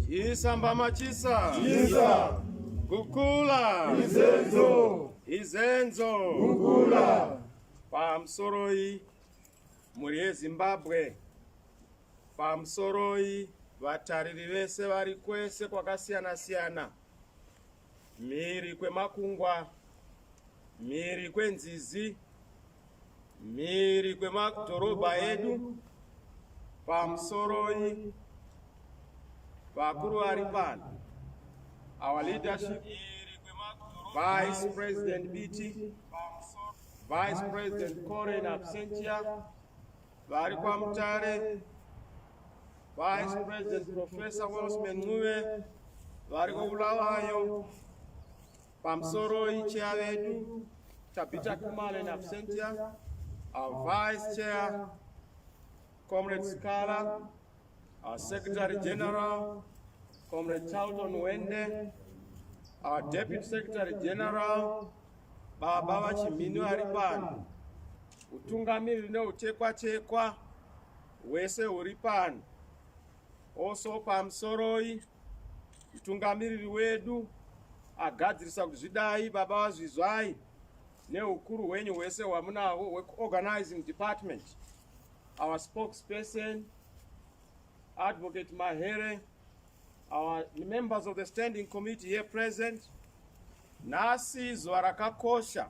Chisamba machisa. Chisa. Kukula. Izenzo. Izenzo. Kukula. Pamusoroi mhuri yeZimbabwe. Pamusoroi vatariri vese vari kwese kwakasiyana siyana. mhiri kwemakungwa, mhiri kwenzizi, mhiri kwemadhorobha edu, pamusoroi vakuru vari pano, our leadership, Vice President Biti, Vice President Kore in absentia, vari kwaMutare, Vice President Professor Welshman Ncube variko Bulawayo pamusoro icheya vedu Tabitha Khumalo in absentia our vice chair Comrade Sikhala our Secretary General Comrade Charlton Wende our Deputy Secretary General Baba Vachimhini vari pano utungamiriri neutekwachekwa hwese huri pano also pamusoroi mutungamiriri wedu agadzirisa kuti zvidai baba vazvizwai neukuru hwenyu hwese hwamunahwo hwekuorganizing department our spokesperson advocate mahere our members of the standing committee here present nhasi zuva rakakosha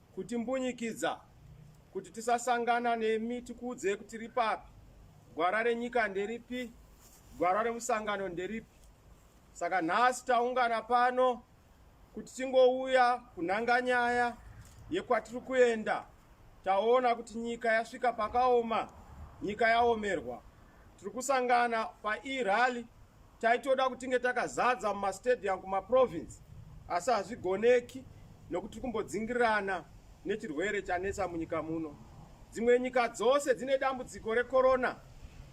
Kutimbunyikidza kuti tisasangana nemi tikuudzei kuti tiri papi. Gwara renyika nderipi? Gwara remusangano nderipi? Saka nhasi taungana pano kuti tingouya kunhanga nyaya yekwatiri kuenda. Taona kuti nyika yasvika pakaoma, nyika yaomerwa. tiri kusangana paerally taitoda kutinge takazadza mumastadium kumaprovince asi hazvigoneki nokuti tiri kumbodzingirirana nechirwere chanetsa munyika muno dzimwe nyika dzose dzine dambudziko rekorona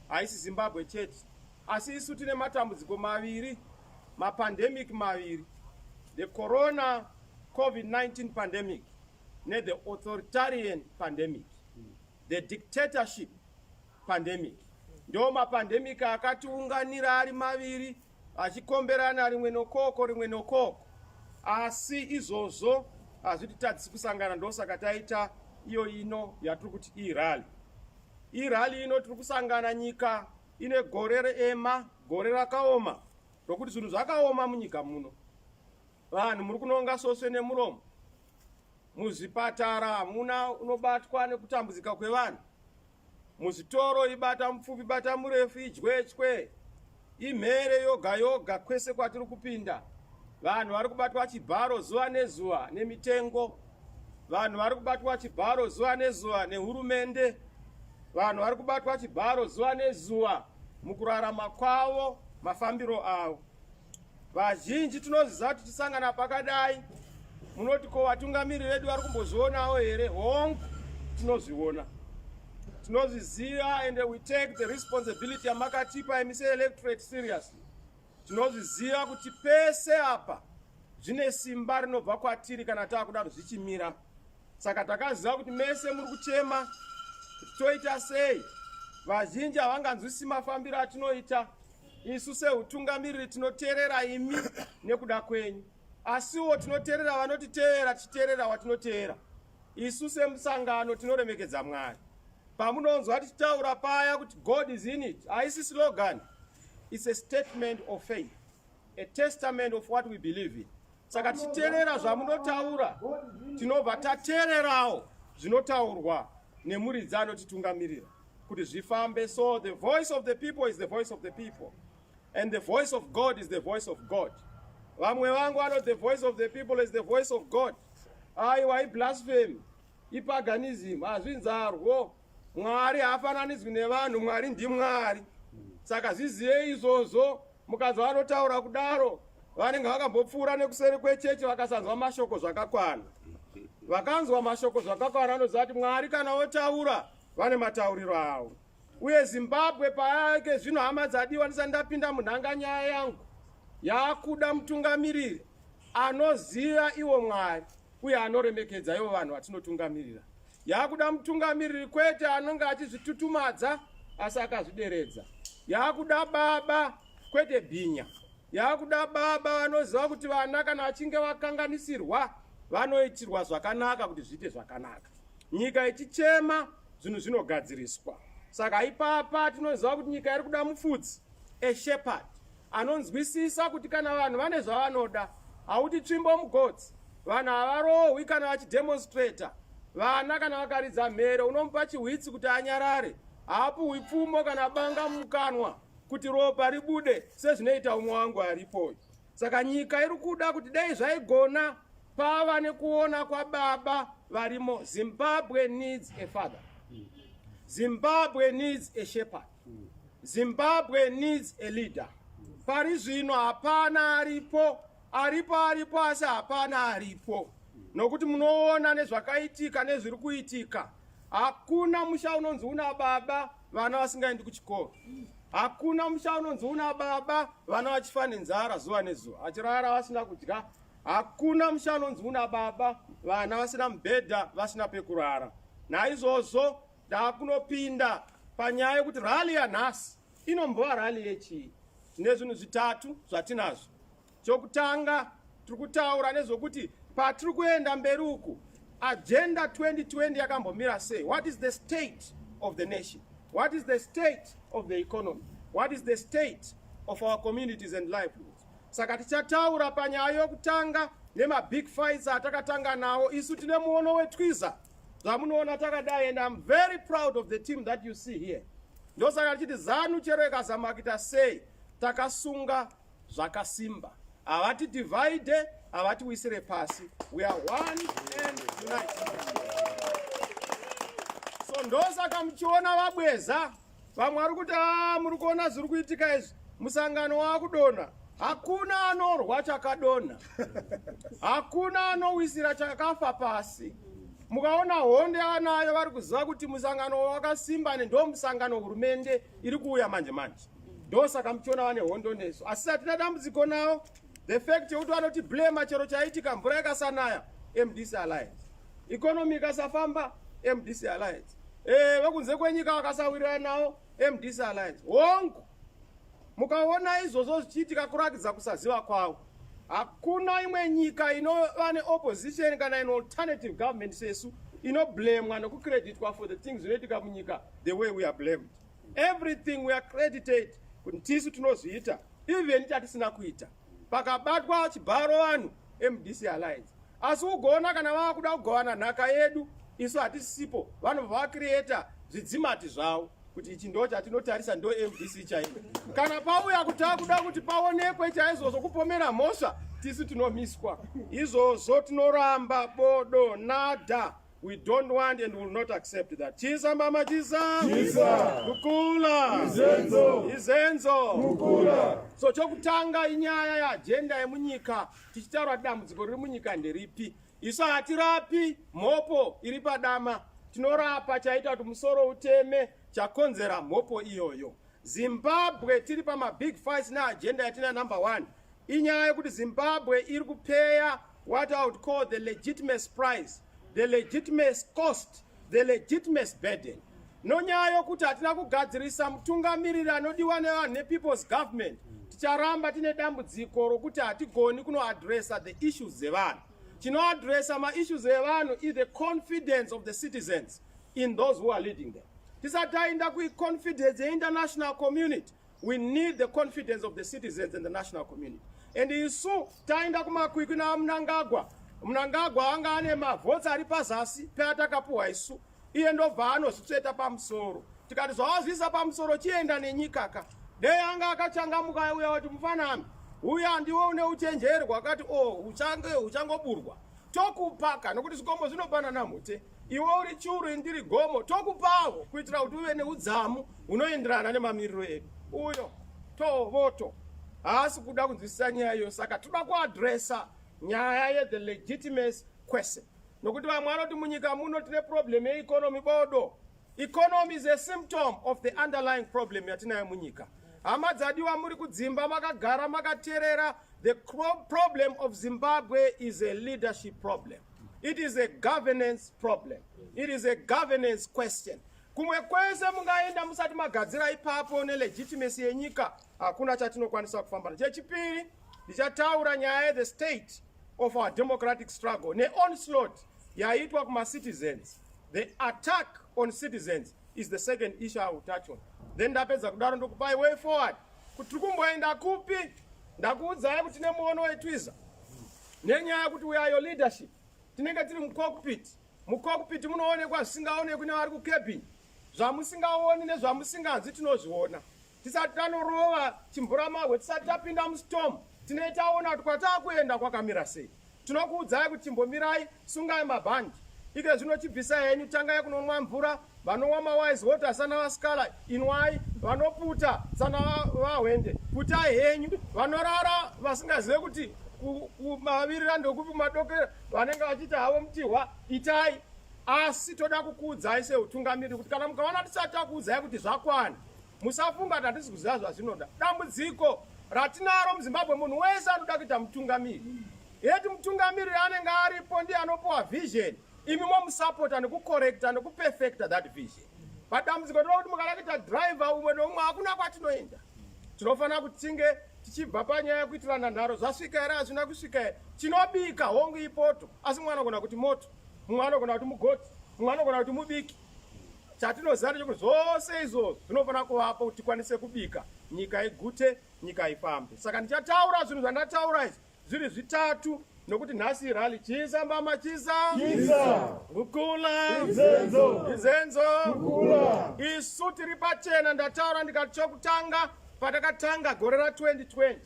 haisi zimbabwe chete asi isu tine matambudziko maviri mapandemic maviri the corona covid-19 pandemic nethe authoritarian pandemic The dictatorship pandemic ndo mapandemic akatiunganira ari maviri achikomberana rimwe nokoko rimwe nokoko asi izvozvo hazvititadzisi kusangana ndosaka taita iyo ino yatiri kuti irali irali ino tiri kusangana nyika ine gore reema gore rakaoma rokuti zvinhu zvakaoma munyika muno vanhu muri kunonga soswe nemuromo Muzvipatara hamuna unobatwa nekutambudzika kwevanhu. Muzvitoro ibata mupfupi bata murefu idyechwe imhere yoga yoga kwese kwatiri kupinda. Vanhu vari kubatwa chibharo zuva nezuva nemitengo. Vanhu vari kubatwa chibharo zuva nezuva nehurumende. Vanhu vari kubatwa chibharo zuva nezuva mukurarama kwavo mafambiro avo. Vazhinji tinoziva kuti tisangana pakadai munoti ko vatungamiri vedu vari kumbozvionawo here hongu tinozviona tinozviziva and we take the responsibility yamakatipa imi seelectorate seriously tinozviziva kuti pese apa zvine simba rinobva kwatiri kana taakudaro zvichimira saka takaziva kuti mese muri kuchema kuti toita sei vazhinji havanganzwisi mafambiro atinoita Isu seutungamiriri tinoteerera imi nekuda kwenyu, asiwo tinoteerera vanotiteerera tichiteerera watinoteera. Isu semusangano tinoremekedza Mwari. Pamunonzwa tichitaura paya kuti God is in it, haisi slogan. It's a statement of faith, a testament of what we believe in. saka tichiterera zvamunotaura tinobva tatererawo zvinotaurwa nemuridzi anotitungamirira kuti zvifambe so the voice of the people is the voice of the people and the voice of god is the voice of god vamwe vangu ano the voice of the people is the voice of god aiwa iblasphemy ipaganism hazvinzarwo mwari haafananidzwi nevanhu mwari ndimwari saka zvizive izvozvo Mukadzi vanotaura kudaro vanenge vakambopfuura nekuseri kwechechi vakasanzwa mashoko zvakakwana. Vakanzwa mashoko zvakakwana vanoziva kuti Mwari kana votaura vane matauriro avo. Uye Zimbabwe payake zvino hama dzadiwa ndisati ndapinda munhanga nyaya yangu yakuda mutungamiriri anoziva iwo Mwari. uye anoremekedza ivo vanhu vatinotungamirira. Yaakuda mutungamiriri kwete anonge achizvitutumadza asi akazvideredza. Yaakuda baba kwete bhinya. Yaakuda baba vanoziva kuti vana kana vachinge vakanganisirwa vanoitirwa zvakanaka kuti zviite zvakanaka. Nyika ichichema zvinhu zvinogadziriswa. Saka ipapa tinoziva kuti nyika iri kuda mufudzi, a shepherd, anonzwisisa kuti kana vanhu vane zvavanoda hauti tsvimbo mugodzi vanhu havarohwi kana vachidemonstrator vana kana vakaridza mhere unomupa chihwitsi kuti anyarare haapuhwi pfumo kana banga mukanwa kuti ropa ribude sezvinoita umwe wangu aripoyo saka nyika iri kuda kuti dai zvaigona pava nekuona kwababa varimo zimbabwe needs a father zimbabwe needs a shepherd Zimbabwe needs a leader. Pari zvino hapana aripo, aripo aripo asi hapana aripo. Nokuti munoona nezvakaitika nezviri kuitika. Hakuna musha unonzi una baba vana vasingaendi kuchikoro. Hakuna musha unonzi una baba vana vachifa nenzara zuva nezuva. Achirara vasina kudya. Hakuna musha unonzi una baba vana vasina mubhedha vasina pekurara. Naizvozvo Ndakunopinda panyaya yekuti rally yanhasi inombova rally yechii nezvinhu zvitatu zvatinazvo. Chokutanga tiri kutaura nezvekuti patiri kuenda mberi uku agenda 2020 yakambomira sei? What is the state of the nation? What is the state of the economy? What is the state of our communities and livelihoods? Saka tichataura panyaya yokutanga nemabig fights atakatanga nawo isu tine muono wetwiza zvamunoona takadai and im very proud of the team that you see here ndosaka tichiti zanu chero ikazama kuita sei takasunga zvakasimba havati divide havati wisire pasi we are one and united so ndosaka muchiona vabweza vamwe vari kuti a muri kuona zviri kuitika izvi musangano waakudonha hakuna anorwa chakadonha hakuna anowisira chakafa pasi mukaona honde anayo vari kuziva kuti musangano wakasimba ne ndo musangano hurumende iri kuuya manje manje ndo saka muchiona vane hondo nesu asi hatina dambudziko nawo the fact yekuti vanoti blema chero chaitika mvura yakasanaya mdc alliance economy ikasafamba mdc alliance eh vekunze kwenyika vakasawirirana nawo mdc alliance hongu mukaona izvozvo zvichiitika kurakidza kusaziva kwavo hakuna imwe nyika inova neopposition kana in alternative government sesu inoblamwa nekucreditwa for the things zvinoitika munyika the way we are blamed everything we are credited kuti tisu tinozviita even tatisina kuita pakabatwa chibharo vanhu mdc alliance asi ugoona kana vava kuda kugovana nhaka yedu isu hatisipo vanobva vakrieta zvidzimati zvavo kuti ichi ndo chatinotarisa ndo mdc chaivo kana pauya kuti akuda kuti paonekwe chaizvozvo kupomera mhosva tisu tinomiswa izvozvo tinoramba bodo nada We don't want and will not accept that. Chisa mama chisa. Chisa. Kukula. Izenzo. Izenzo. Kukula. So chokutanga inyaya ya agenda yemunyika tichitaura dambudziko riri munyika nderipi. Isu hatirapi mhopo iri padama. Tinorapa chaita kuti musoro uteme chakonzera mhopo iyoyo. Zimbabwe tiri pama big fights ne agenda yatina number one inyaya yekuti Zimbabwe iri kupeya what I would call the legitimate price, the legitimate cost, the legitimate burden nonyaya yokuti hatina kugadzirisa mutungamiriri anodiwa nevanhu nepeople's government ticharamba tine dambudziko rokuti hatigoni kunoadressa the issues dzevanhu chinoadresa maissues evanhu is the confidence of the citizens in those who are leading them tisati tainda kuiconfidence yeinternational community we need the confidence of the citizens and the national community and isu tainda kumakwikwi naamnangagwa mnangagwa anga ane mavhotsi ari pazasi peatakapuhwa isu iye ndobva anozvitsveta pamusoro tikati zvawazviisa pamusoro chienda nenyikaka dei anga akachangamuka uya wati mufanami uya ndiwe une uchenjeri hwakati o oh, uchange uchangoburwa tokupaka nokuti zvikomo zvinopanana mute iwe uri churu indiri gomo tokupawo kuitira kuti uve neudzamu hunoenderana nemamiriro edu uyo tovoto haasi kuda kunzwisisa nyaya iyo saka toda kuadresa nyaya yethe legitimacy question nokuti vamwe vanoti munyika muno tine problem yeeconomy bodo economy is a symptom of the underlying problem yatinayo munyika hama dzadiwa muri kudzimba makagara makaterera the problem of zimbabwe is a leadership problem it is a governance problem it is a governance question kumwe kwese mungaenda musati magadzira ipapo nelegitimacy yenyika hakuna chatinokwanisa kufambana chechipiri ndichataura nyaya yethe state of our democratic struggle ne onslaught yaitwa kuma citizens the attack on citizens is the second issue I will touch on then ndapedza kudaro ndokupai way forward kuti tiri kumboenda kupi ndakuudzai kuti nemuono wetwiza nenyaya kuti we are your leadership tinenge tiri mucockpit mucockpit munoonekwa zvisingaonekwi nevari kucabin zvamusingaoni nezvamusinganzi tinozviona tisati tanorova chimvuramahwe tisati tapinda mustorm tinei taona kuti kwataa kuenda kwakamira sei tinokuudzai kuti chimbomirai sungai mabhandi ike zvino chibvisa henyu tangai kunomwa mvura vanowa mawise water sana vasikala inwai vanoputa sana vahwende putai henyu vanorara vasingazive kuti kumavirira ndokupi kumadokera vanenge vachiita havo mutihwa itai asi toda kukuudzai seutungamiriri kuti kana mukaona tisati takuudzai kuti zvakwana Musafunga kuti hatisi kuziva zvazvinoda. Dambudziko ratinaro muZimbabwe, munhu wese anoda kuita mutungamiri. Yeti mutungamiri anenge aripo ndiye anopiwa vision, imi momusapota nekukorekta nekuperfecta that vision. Padambudziko tinoda kuti mukada kuita driver umwe neumwe hakuna kwatinoenda. Tinofanira kuti tinge tichibva panyaya yekuitirana nharo zvasvika here hazvina kusvika here tinobika hongu ipoto asi mumwe anogona kuti moto mumwe anogona kuti mugoti mumwe anogona kuti mubiki Chatinoziva ndechekuti zvose izvo zvinofanira kuvapo kuti tikwanise kubika nyika igute, nyika ifambe. Saka ndichataura zvinhu zvandataura izvi zviri zvitatu nokuti nhasi irali chisa mbama chisa kukula izenzo isu tiri pachena ndataura ndikati chokutanga patakatanga gore ra 2020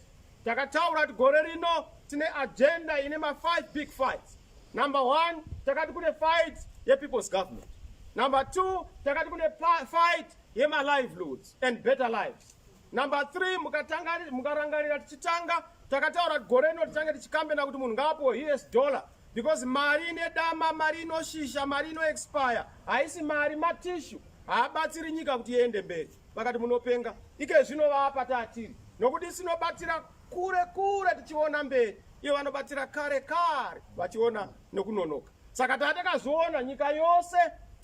takataura kuti gore rino tine agenda ine ma5 big fights Number one, takati kune fight yepeople's government. Number two, takati kune fight yemalivelioods and better lives. Number three, mukarangarira tichitanga takataura kuti gore rino tichange tichikambena kuti munhu ngaapuwo us dollar because mari ine dama mari inoshisha mari inoexpire haisi mari matishu haabatsiri nyika kuti iende mberi vakati munopenga ike zvinovapa taatiri nokuti sinobatsira kure kure tichiona mberi Iye vanobatsira kare kare vachiona nekunonoka. Saka tatakazoona nyika yose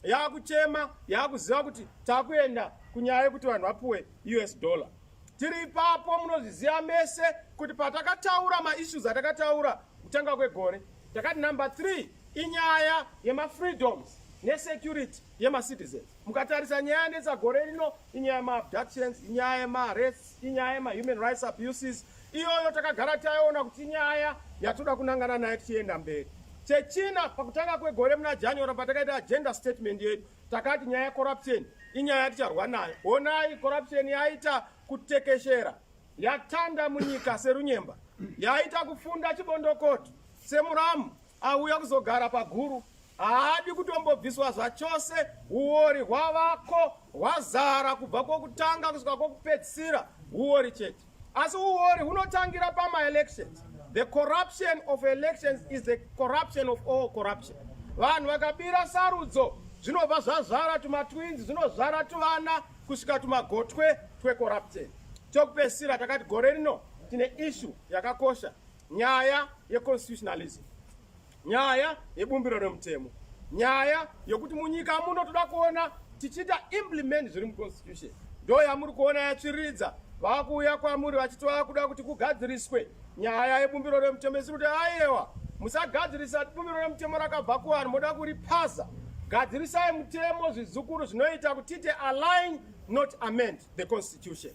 yakuchema yakuziva kuti takuenda kunyaya yekuti vanhu vapuwe US dollar. Tiri ipapo munozviziva mese kuti patakataura maissues atakataura kutanga kwegore takati number 3 inyaya yemafreedoms nesecurity yemacitizens mukatarisa nyaya yanetsa gore rino inyaya yemaabductions inyaya yemarests inyaya yemahuman rights abuses iyoyo takagara taiona kuti nyaya yatoda kunangana naye tichienda mberi chechina pakutanga kwegore muna january patakaita agenda statement yedu takati nyaya yecorruption inyaya yaticharwa nayo honai corruption yaita kutekeshera yatanda munyika serunyemba yaita kufunda chibondokoto semuramu auya kuzogara paguru haadi kutombobviswa zvachose uori hwavako hwazara kubva kwokutanga kusvika kwokupedzisira uori chete asi uori hunotangira pamaelections the corruption of elections is the corruption of all corruption vanhu vakabira sarudzo zvinobva zvazvara tumatwins zvinozvara tuvana kusvika tumagotwe twecorruption tokupesira takati gore rino tine ishu yakakosha nyaya yeconstitutionalism nyaya yebumbiro remutemo nyaya yokuti munyika muno toda kuona tichiita implement zviri muconstitution ndo yamuri kuona yatsviriridza vakuuya kwamuri vachitova kuda kuti kugadziriswe nyaya yebumbiro remutemo isiri kuti ayewa musagadzirisa bumbiro remutemo rakabva kuvanhu moda kuripasa gadzirisai mutemo zvizukuru zvinoita kuti tiite align not amend the constitution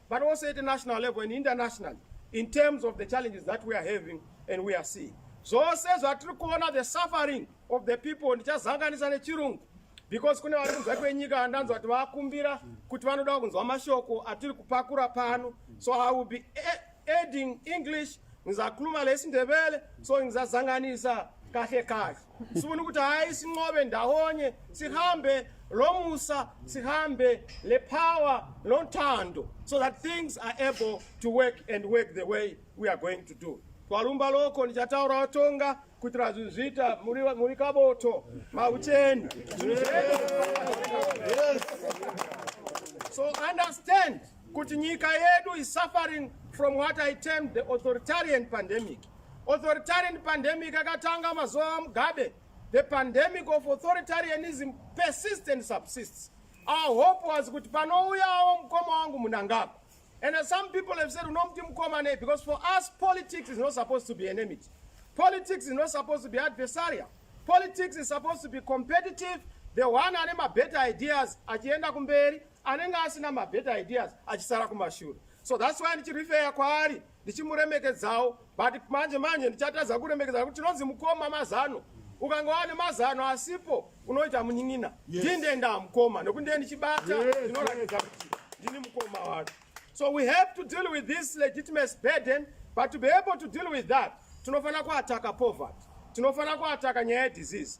but also at a national level and internationally in terms of the challenges that we are having and we are seeing zvose zvatiri kuona the suffering of the people ndichazanganisa nechirungu because kune vari kunzwa kwenyika andanzwa kuti vakumbira kuti vanoda kunzwa mashoko atiri kupakura pano so i will be adding english ngizakhuluma lesindebele so ngizazanganisa kahle kahle sifuna ukuthi hayi sinqobe ndawonye sihambe lo musa sihambe le power lo nthando so that things are able to work and work the way we are going to do kwalumba loko ndichataura watonga kuitira zvinhu zviita muri kaboto maucheni so understand kuti nyika yedu is suffering from what i termed the authoritarian pandemic authoritarian pandemic akatanga mazuva amugabe the pandemic of authoritarianism persists and subsists our hope was kuti panouyawo mukoma wangu munangagwa and some people have said unomuti mukoma nei because for us politics is not supposed to be enemity politics is not supposed to be adversarial politics is supposed to be competitive the one ane mabetter ideas achienda kumberi anenge asina mabetter ideas achisara kumashure so thats why ndichirifeya kwaari ndichimuremekedzawo but manje manje ndichatadza kuremekedza nekuti tinonzi mukoma mazano ukanga wane mazano asipo unoita munin'ina ndindenda mukoma nekuti ndiye ndichibata ndinoratidza kuti ndini mukoma wake so we have to deal with this legitimacy burden but to be able to deal with that tinofanira kuataka poverty tinofanira kuataka nyaya yedisease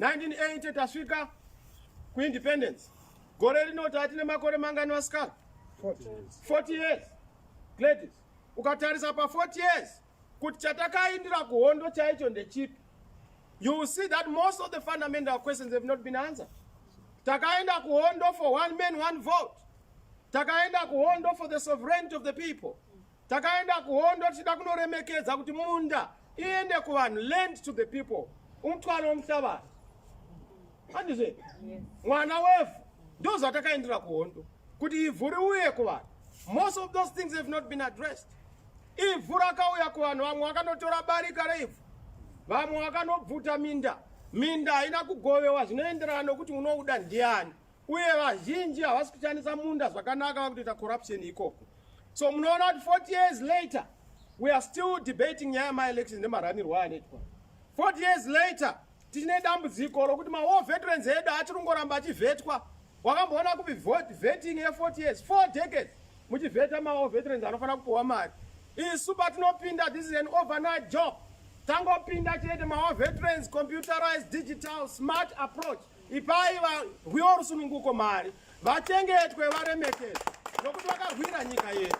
1980 tasvika kuindependence gore rino tati nemakore mangani vasikana 40 years gladys ukatarisa pa 40 years kuti chatakaindira kuhondo chaicho ndechipi you will see that most of the fundamental questions have not been answered takaenda kuhondo for one man one vote takaenda kuhondo for the sovereignty of the people Takaenda kuhondo tichida kunoremekedza kuti munda iende kuvanhu, land to the people, umutwaro womuhlabazi. Handizve mwana wevhu ndozvatakaendera kuhondo kuti ivhu riuye kuvanhu. Most of those things have not been addressed. Ivhu rakauya kuvanhu, vamwe vakanotora barika reivhu, vamwe vakanobvuta minda. Minda haina kugovewa zvinoenderana nokuti unouda ndiani. uye vazhinji havasi kushandisa munda zvakanaka vakutoita corruption ikoko so munoona kuti 40 years later we are still debating nyaya yamaelections nemaranirwo anoitwa 40 years later tichine dambudziko rokuti mawar veterans edu achiri kungoramba achivhetwa wakamboona kupi vetting ye40 years four decades muchivheta mawar veterans anofanira kupiwa mari isu patinopinda this is an overnight job tangopinda chete mawar veterans computerized digital smart approach Ipai varwiwo rusununguko mari, vachengetwe, varemekedzwe nokuti vakarwira nyika yedu.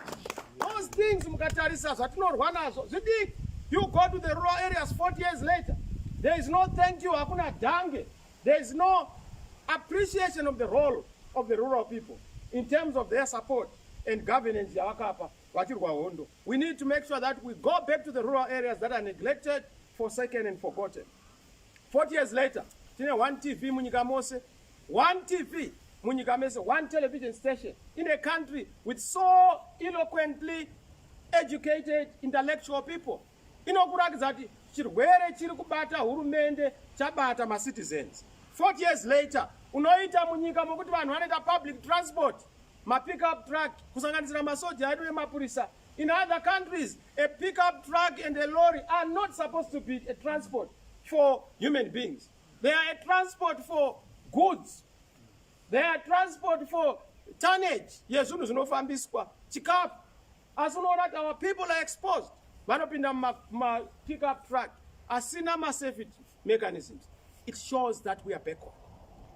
Those things mukatarisa zvatinorwa nazvo zvidiki. You go to the rural areas 40 years later, there is no thank you, hakuna dange, there is no appreciation of the role of the rural people in terms of their support and governance yavakapa vachirwa hondo. We need to make sure that we go back to the rural areas that are neglected, forsaken and forgotten. 40 years later tine one tv munyika mose one tv munyika mese one television station in a country with so eloquently educated intellectual people inokurakidza kuti chirwere chiri kubata hurumende chabata macitizens 40 years later unoita munyika mokuti vanhu vanoita public transport mapickup truck kusanganisira masoja edu nemapurisa In other countries, a pickup truck and a lorry are not supposed to be a transport for human beings. They are a transport for goods. They are transport for tonnage yezvinhu zvinofambiswa chikafu asi unoona kuti our people are exposed vanopinda mumapickup truck asina masafety mechanisms it shows that we are backward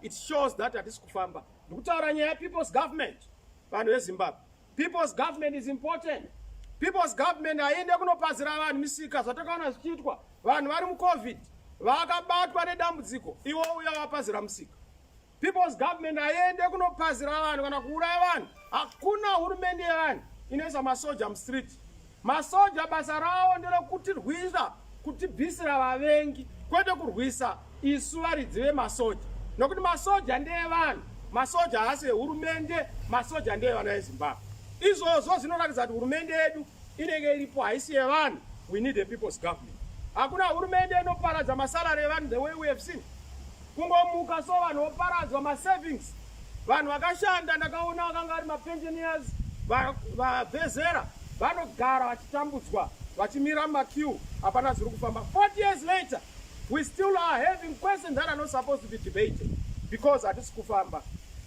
it shows that hatisi kufamba ndikutaura nyaya yepeople's government vanhu vezimbabwe People's government is important. People's government haiende kunopazira vanhu misika zvatakaona zvichiitwa vanhu vari mucovid vakabatwa nedambudziko iwo uya wapazira musika. People's government haiende kunopazira vanhu kana kuuraya vanhu. Hakuna hurumende yevanhu inoisa masoja mustreet. Masoja basa rawo nderokutirwisa kutibvisira vavengi kwete kurwisa isu varidzi vemasoja nokuti masoja ndeevanhu masoja haasi ehurumende masoja ndeevana vezimbabwe izvozvo zvinoratidza kuti hurumende yedu inenge iripo haisi yevanhu we need a people's government hakuna hurumende inoparadza masalary evanhu the way we have seen kungomuka so vanhu voparadzwa masavings vanhu vakashanda ndakaona vakanga vari mapensioners vavezera vanogara vachitambudzwa vachimira makiu hapana zviri kufamba 40 years later we still are having questions that are not supposed to be debated because hatisi kufamba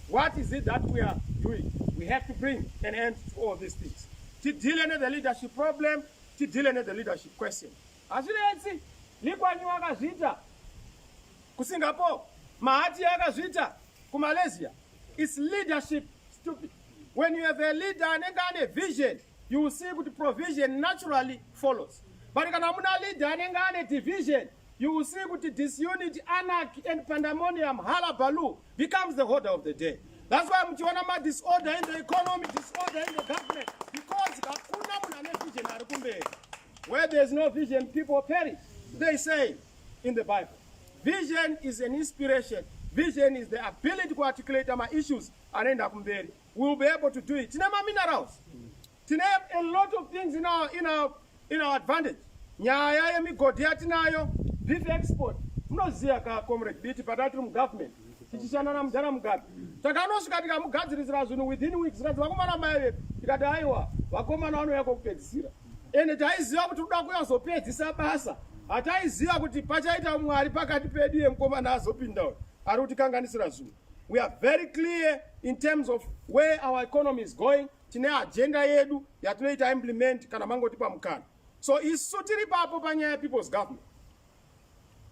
what is it that we are doing we have to bring an end to all these things tidile nethe leadership problem tidile nethe leadership question Hazvinetsi, Likwanyu wakazviita kuSingapore, Mahati akazviita kuMalaysia. It's leadership stupid. When you have a leader anenge ane vision, you will see kuti provision naturally follows. But kana muna leader anenge ane division, you will see kuti disunity, anarchy and pandemonium, halabaloo becomes the order of the day. That's why muchiona ma disorder in the economy, disorder in the government because hakuna munhu ane vision ari kumberi. Where there's no vision, people perish. They say in the Bible, vision is an inspiration. Vision is the ability to articulate my issues and end up in bed. We will be able to do it. Tine ma minerals. Tine a lot of things in our, in our, in our advantage. Nyaya yemigodhi yatinayo, beef export. Munoziya ka comrade biti patati mu government. Tichishanda na mudhara Mugabe. Takanosvika tikamugadzirisira zvinhu within weeks. Zikazi vakomana mai vepi. Tikati aiwa, vakomana vanouya kokupedzisira. ende taiziva kuti kuda kuyazopedzisa basa hataiziva kuti pachaita mwari pakati pedu ye mukomana azopinda uyu ari kutikanganisira zvinhu we are very clear in terms of where our economy is going tine agenda yedu yatinoita implement kana mangoti pamukana so isu tiri papo panyaya people's government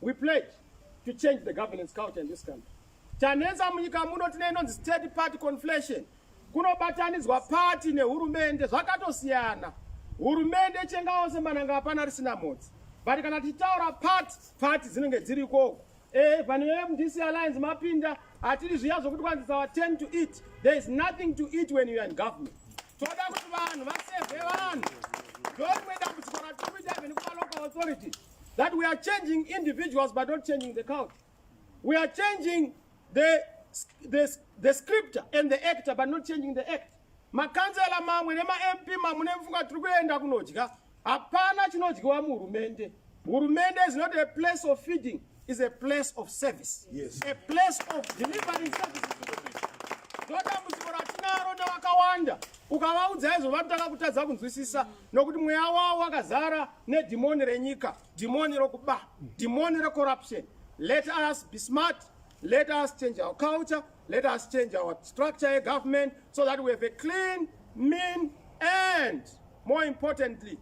We pledge to change the governance culture in this country. Chanetsa munyika muno tine inonzi state party conflation. Kunobatanidzwa party nehurumende zvakatosiyana. Hurumende ichengawo semananga hapana risina mhodzi. But kana tichitaura party, party dzinenge dziri ikoko. Eh, vanhu veMDC Alliance mapinda hatiri zviya zvokuti kwanzi our turn to eat. There is nothing to eat when you are in government. Toda kuti vanhu vasevhe vanhu. Ndorimwe dambudziko ratiri kuita even kuma local authorities. that we are changing individuals but not changing the country. We are changing the, the, the scripture and the actor but not changing the act. Makanzela mamwe nemaMP mamwe nemfunga tiri kuenda kunodya. Hapana chinodyiwa muhurumende. Hurumende is not a place of feeding, is a place of service. Yes. A place of delivering services to the people. Ndoda muziko ratinaro newakawanda. Ukavaudza izvo vanotanga kutadza kunzwisisa. nokuti mweya wavo wakazara nedhimoni renyika dhimoni rokuba dhimoni recorruption let us be smart let us change our culture let us change our structure yegovernment so that we have a clean mean and more importantly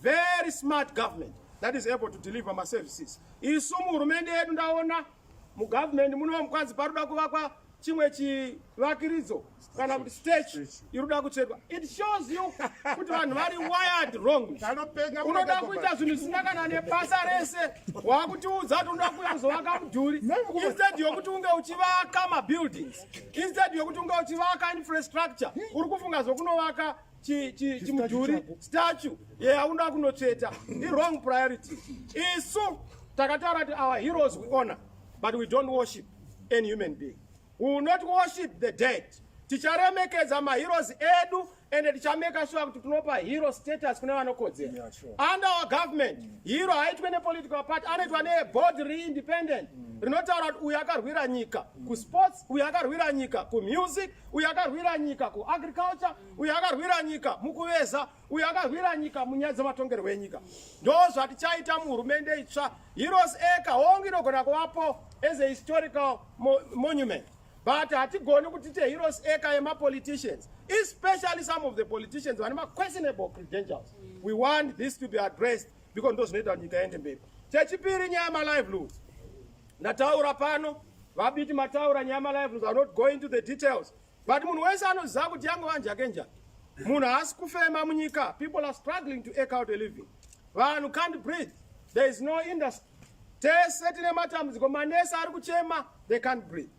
very smart government that is able to deliver maservices isu muhurumende yedu ndaona mugovernment muno mukwanzi paroda kuvakwa chimwe chivakiridzo kana kuti stage iri kuda kutsvetwa it shows you kuti vanhu vari wired wrong unoda kuita zvinhu zvisina kana nebasa rese wakutiudza kuti unoda kuuya kuzovaka mudhuri instead yokuti unge uchivaka mabuildings instead yokuti unge uchivaka infrastructure uri kufunga zvokunovaka chimudhuri statue yeaunda kunotsveta iwrong priority isu takataura kuti our heroes we honor but we don't worship any human being we will not worship the dead ticharemekedza maheroes edu ende tichameka shuwa kuti tinopa hero status kune vanokodzera yeah, sure. under our government mm. hero haitwe nepolitical party anoitwa neboard reindependent mm. rinotaura kuti uyu akarwira nyika mm. kusports uyu akarwira nyika kumusic uyu akarwira nyika kuagriculture uyo akarwira nyika mukuveza uyo akarwira nyika munyaya dzematongerwo enyika ndo zvatichaita muhurumende itsva heroes eka hongu inogona kuvapo as a historical mo monument but hatigoni kuti te heroes eka yemapoliticians especially some of the politicians vane maquestionable credentials we want this to be addressed because ndo zvinoita nyika yende mberi chechipiri nyaya yemalivelihoods ndataura pano vabiti mataura nyaya yemalivelihoods are not going to the details but munhu wese anoziva kuti yangu vanjake nja munhu haasi kufema munyika people are struggling to ake out a living vanhu can't breathe there is no industry tese tine matambudziko manesi ari kuchema they can't breathe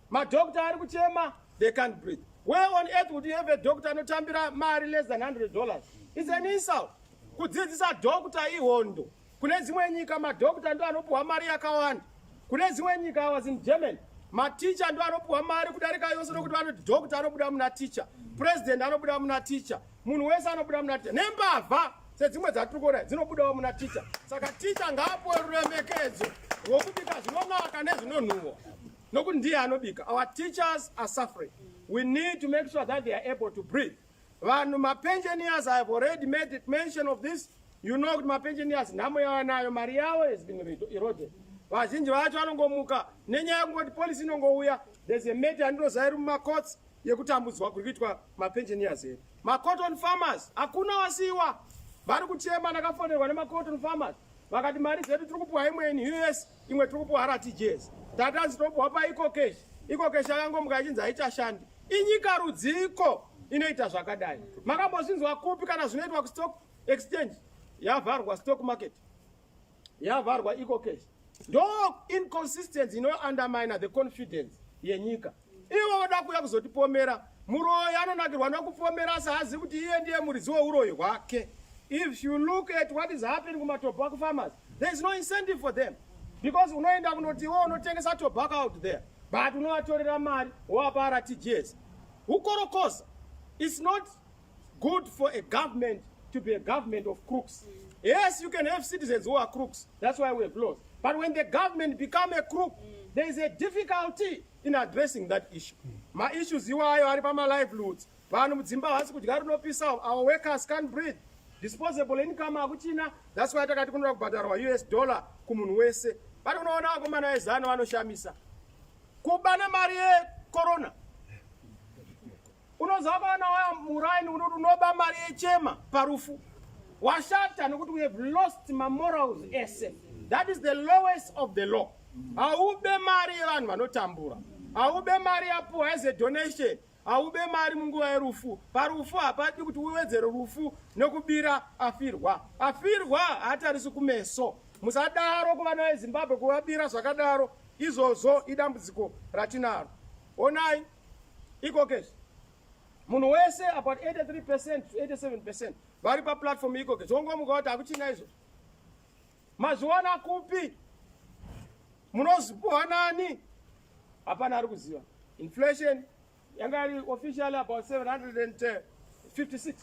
madokta ari kuchema they can't breathe where on earth would you have a doctor anotambira mari less than 100 dollars is an insult kudzidzisa dokta ihondo Kune dzimwe nyika madokta ndo anopuwa mari yakawanda. Kune dzimwe nyika I was in Germany. Maticha ndo anopuwa mari kudarika yose nokuti vanoti dokta anobuda muna ticha, president anobuda muna ticha, munhu wese anobuda muna ticha. Nembavha sedzimwe dzatiri kuona dzinobudawo muna ticha. Saka ticha ngaapuwe ruremekedzo rwokubika zvinonaka nezvinonhuwa nokuti ndiye anobika. Our teachers are suffering. We need to make sure that they are able to breathe. Vanhu mapensioners have already made it mention of this. You know kuti mapensioners nhamo yavanayo mari yavo has been eroded. Vazhinji vacho vanongomuka nenyaya yekungoti policy inongouya there's a matter andinoziva iri mumacourts yekutambudzwa kuri kuitwa mapensioners edu. Macotton farmers hakuna wasiiwa vari kuchema ndakafonerwa nemacotton farmers vakati mari dzedu tiri kupiwa imweni us imwe tiri kupuwa rtgs tatanzi topuwa paikokeshi ikokeshi akangomuka achinzi haichashandi inyika rudziko inoita zvakadai makambozvinzwa kupi kana zvinoitwa kustock exchange yavharwa stock market yavharwa ecocash ndo inconsistency inoundermine the confidence yenyika ivo voda kuuya kuzotipomera muroyi anonakirwa nokupomera asi haazivi kuti iye ndiye muridzi weuroyi hwake if you look at what is happening kumatobho akufarmers there is no incentive for them because unoenda kunoti iwo unotengesa tobacco out there but unovatorera mari wowapa rtgs ukorokoza its not Good for a government to be a government of crooks. Yes, you can have citizens who are crooks. That's why we have laws. But when the government become a crook, there is a difficulty in addressing that issue. My issues you are ari pama livelihoods. Vanhu mudzimba havasi kudya rinopisa, our workers can't breathe. Disposable income akuchina. That's why takati kunoda kubhadharwa US dollar kumunhu wese. But unoona akomana ezano vanoshamisa. Kubana mari yekorona. Unoziva kana waya muraini unoti unoba mari yechema parufu. Washata nekuti we have lost my morals ese. That is the lowest of the law. Haube mari yevanhu vanotambura. Haube mari yapuwa as a donation. Haube mari munguva yerufu. Parufu hapadi kuti uwedzere rufu nekubira afirwa. Afirwa haatarisi kumeso. Musadaro kuvana veZimbabwe kuvabira zvakadaro. Izvozvo idambudziko ratinaro. Onai. iko keshi munhu wese about 83 percent to 87 percent vari paplatform iko keshi wongomuka kuti hakuchina izvo mazviwana kupi munozipuhwa nani hapana ari kuziva inflation yanga iri officially about 756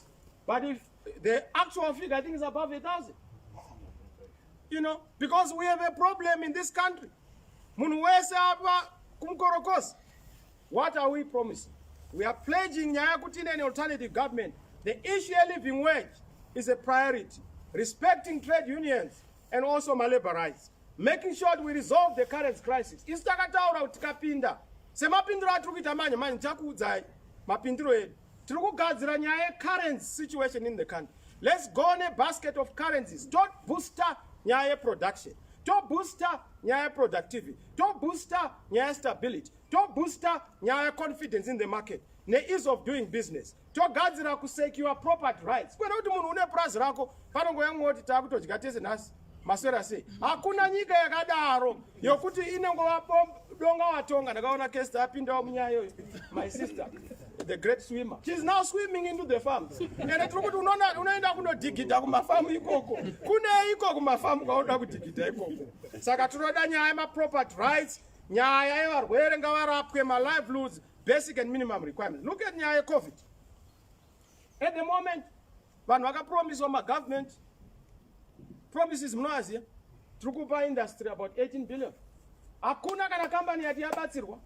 but if the actual figure i think is above a thousand you know because we have a problem in this country Munhu wese apa kumukorokosi. What are we promising? We are pledging nyaya kuti ine alternative government. The issue of living wage is a priority. Respecting trade unions and also my labor rights. Making sure that we resolve the current crisis. Isu takataura kuti tikapinda semapindiro atiri kuita manje manje takuudzai mapindiro edu. tiri kugadzira nyaya yecurrency situation in the country let's go nebasket of currencies tobooster nyaya yeproduction tobooster nyaya yeproductivity tobooster nyaya yestability tobooster nyaya yeconfidence in the market neease of doing business togadzira kusekiwa property rights kwete kuti munhu une purazi rako panongouya mumwe woti taakutodya tese nhasi maswera sei hakuna nyika yakadaro yokuti inongova donga watonga ndakaona kest apindawo munyaya yoyo my sister the great swimmer she's now swimming into the farm ende tiri kuti unoenda kunodigidha kumafamu ikoko kunei iko kumafamu kwaunoda kudigidha ikoko saka tinoda nyaya yemaproperty rights nyaya yevarwere ngavarapwe malivelihoods basic and minimum requirements look at nyaya yecovid At the moment, vanhu vakapromiswa magovernment promises munoaziya tiri kupa industry about 18 billion hakuna kana kambani yati yabatsirwa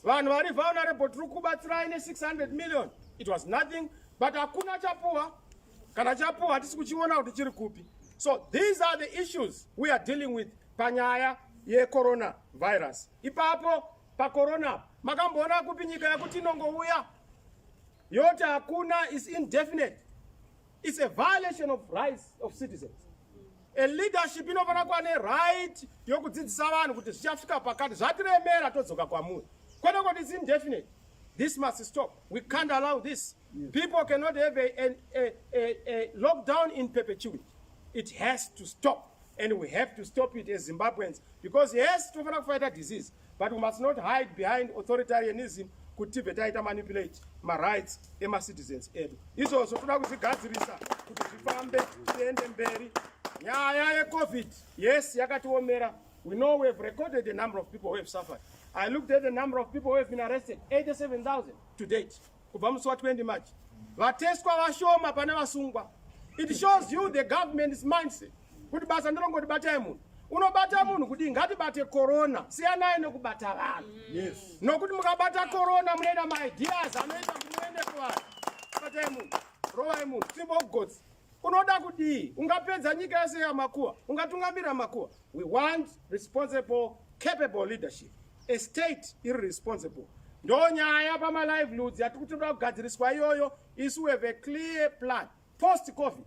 vanhu vari vulnerable tiri kubatsirai ne600 million it was nothing but hakuna chapuwa kana chapuwa hatisi kuchiona kuti chiri kupi so these are the issues we are dealing with panyaya yecorona virus ipapo pacorona apa makamboona kupi nyika yakuti inongouya yoti hakuna is indefinite its a violation of rights of citizens a leadership inofanira kuva neright yokudzidzisa vanhu kuti zvichasvika pakati zvatiremera todzoka kwamuri kwete kuti its indefinite this must stop we can't allow this yes. people cannot have a, a, a, a, a lockdown in perpetuity it has to stop and we have to stop it as zimbabweans because yes tinofanira kufaita disease but we must not hide behind authoritarianism kuti tibve taita manipulate marights emacitizens edu izvozvo toda kuzvigadzirisa kuti zvifambe tiende mberi nyaya yecovid yes yakatiomera we know we have recorded the number of people who have suffered i looked at the number of people who have been arrested 87000 to date Kubva musi wa 20 March vateswa vashoma pane vasungwa. It shows you the government's mindset. Kuti basa ndirongoti batai munhu. Unobata munhu kuti ngatibate corona siyanai nekubata vanhu. Yes. Nokuti mukabata corona munoita ma ideas anoita kuti muende kuvanhu. Batai munhu. Rovai munhu. Simba ugotsi. unoda kudii ungapedza nyika yese yamakuwa ungatungamira makuwa we want responsible capable leadership a state iri responsible ndo nyaya pamaliveliwoods yati kuti toda kugadziriswa iyoyo isu have a clear plan post covid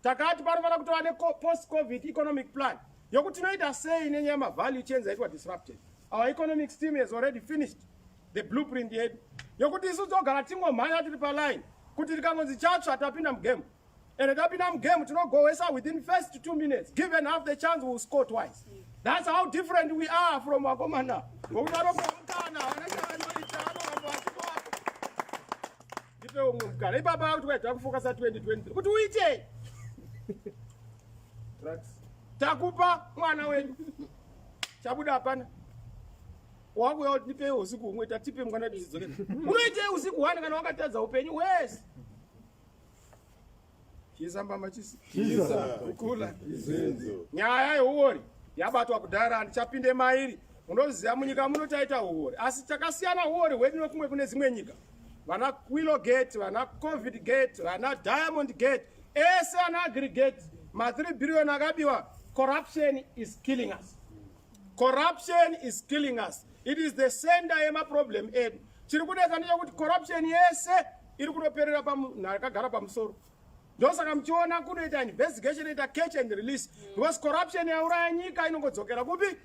takati panofanira kutova nepost covid economic plan yokuti tinoita sei nenyaya yemavalue chains aitwa disrupted our economic steam has already finished the blueprint yedu yokuti isu togara tingomhanya tiri paline kuti tikangonzi chatsva tapinda mugame and tapinda mugame tinogohwesa within first two minutes given half the chance will score twice that's how different we are from vakomana ngokudaro kwamukana ndipe umwe mukana ipapa akuti waita kufokasa 2023 kuti uitei takupa mwana wenyu chabuda hapana wakuya kuti ndipei usiku humwe tatipe mukana tizidzokera unoitei usiku hwani kana wakatadza upenyu wese chiisa mbama chisi kukula nyaya yeuori yabatwa kudhara handichapinde mairi unoziva munyika muno taita uori asi takasiyana uori hwedu nekumwe kune dzimwe nyika vana quilo gate vana covid gate vana diamond gate ese ana agrigate ma3 billion akabiwa corruption is killing us Corruption is killing us. It is the center yema problem edu. Chiri kunetsa ndechekuti corruption yese iri kunoperera pamunhu akagara pamusoro. Ndosaka muchiona kunoita investigation ita catch and release because corruption yauraya nyika inongodzokera kupi?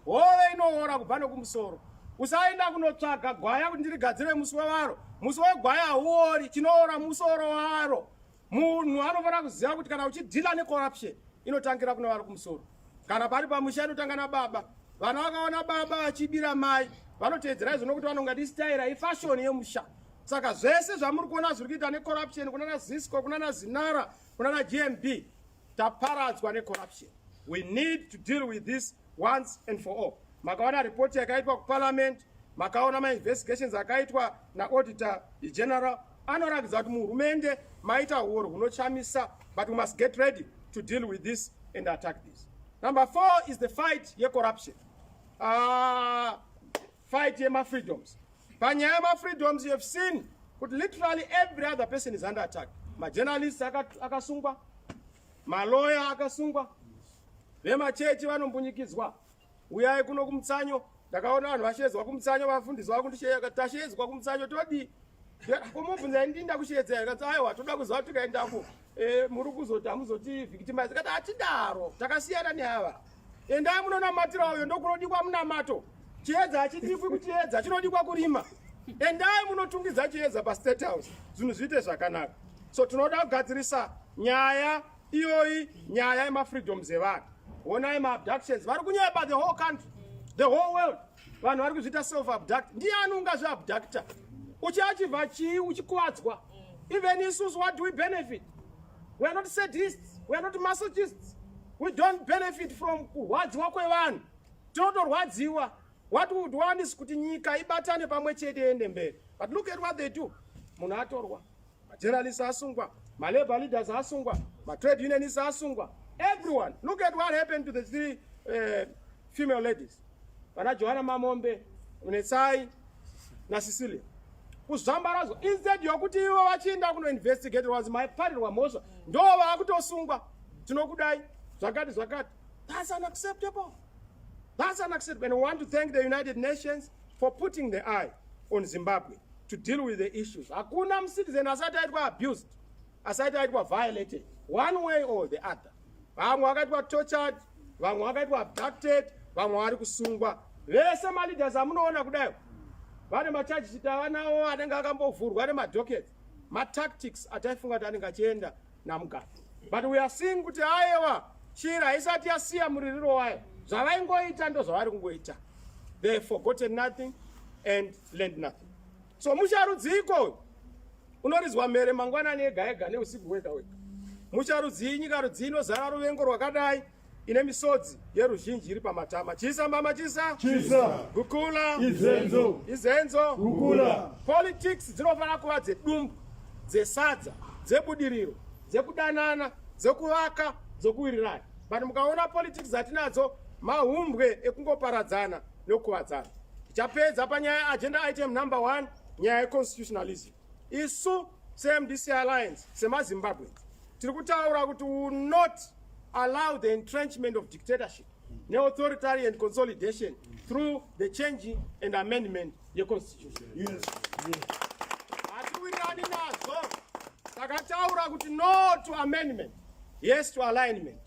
Hove inoora kubva nokumusoro. Usaenda kunotsvaga gwaya kuti ndirigadzire musi wewaro. Musi wegwaya hauori, chinoora musoro waro. munhu anofanira kuziva kuti kana uchidhila necorruption inotangira kuna vari kumusoro kana pari pamusha inotanga nababa vana vakaona baba vachibira mai vanoteedzera izvo nokuti vanonga ti staira ifashoni yemusha saka zvese zvamuri kuona zviri kuita necorruption kunana zisco kunana zinara kunana gmb taparadzwa necorruption we need to deal with this once and for all makaona report yakaitwa kuparliament makaona mainvestigations akaitwa naauditor general anoratidza kuti muhurumende maita huori hunochamisa but we must get ready to deal with this and attack this number four is the fight yecorruption uh, Fight yema freedoms. Panyaya yema freedoms you have seen kuti literally every other person is under attack. Ma journalists akasungwa, ma lawyer akasungwa, vema church vanombunyikidzwa. Uyai kuno kumutsanyo, ndakaona vanhu vashedzwa kumutsanyo, vafundisi vakundisheya, tashedzwa kumutsanyo todii? komobvunza ini ndinda kushedza here kati aiwa toda kuziva tikaendako eh, muri kuzoti hamuzotivhikitimaisa kati hatidaro takasiyana neava Endai munonamatira uyo ndokunodikwa munamato. Chiedza hachidikwi kuchiedza, chinodikwa kurima. Endai munotungidza chiedza paState House, zvinhu zviite zvakanaka. So tinoda kugadzirisa nyaya iyoyi, nyaya yemafreedoms evanhu. Honai maabductions, vari kunyepa the whole country, the whole world. vanhu vari kuzviita self abduct ndiani ungazvi abducta uchiachivha chii uchikuvadzwa even isusu what do we benefit we are not sadists we are not masochists we don't benefit from kurwadziwa kwevanhu tinotorwadziwa what would want is kuti nyika ibatane pamwe chete ende mberi but look at what they do munhu atorwa majournalists asungwa malabor leaders asungwa matrade unionists asungwa everyone look at what happened to the three uh, female ladies vana johana mamombe netsai nasicilia kuzvambarazo instead yokuti ivo vachienda kunoinvestigate was maiparirwa mhosva ndo vakutosungwa tinokudai zvakati zvakati thats unacceptable thats unacceptable and we want to thank the united nations for putting the eye on zimbabwe to deal with the issues hakuna mucitizen asati aitwa abused asati aitwa violated one way or the other vamwe vakaitwa tortured vamwe vakaitwa abducted vamwe vari kusungwa vese maleaders amunoona kudayo vane machaji chiti avanawo anenge akambovhurwa nemadocket matactics ataifunga kuti anenge achienda namugabe but we are seeing kuti ayewa shira haisati yasiya muririro wayo zvavaingoita ndozvavari kungoita they forgotten nothing and learned nothing so musharudziko unorizwa mhere mangwanani ega ega neusiku wega wega musharudzii nyika rudzii inozara ruvengo rwakadai ine misodzi yeruzhinji iri pamatama chisa mama chisa chisa gukula izenzo izenzo gukula politics dzinofanira kuva dzedumbu dzesadza dzebudiriro dzekudanana dzekuvaka dzokuwirirana but mukaona politics dzatinadzo mahumbwe ekungoparadzana nokukuvadzana tichapedza panyaya agenda item number one nyaya yeconstitutionalism isu semdc alliance semazimbabweans tiri kutaura kuti will not allow the entrenchment of dictatorship neauthoritarian consolidation through the changing and amendment yeconstitution hatiwirirani nazvo takataura kuti no to amendment yes to alignment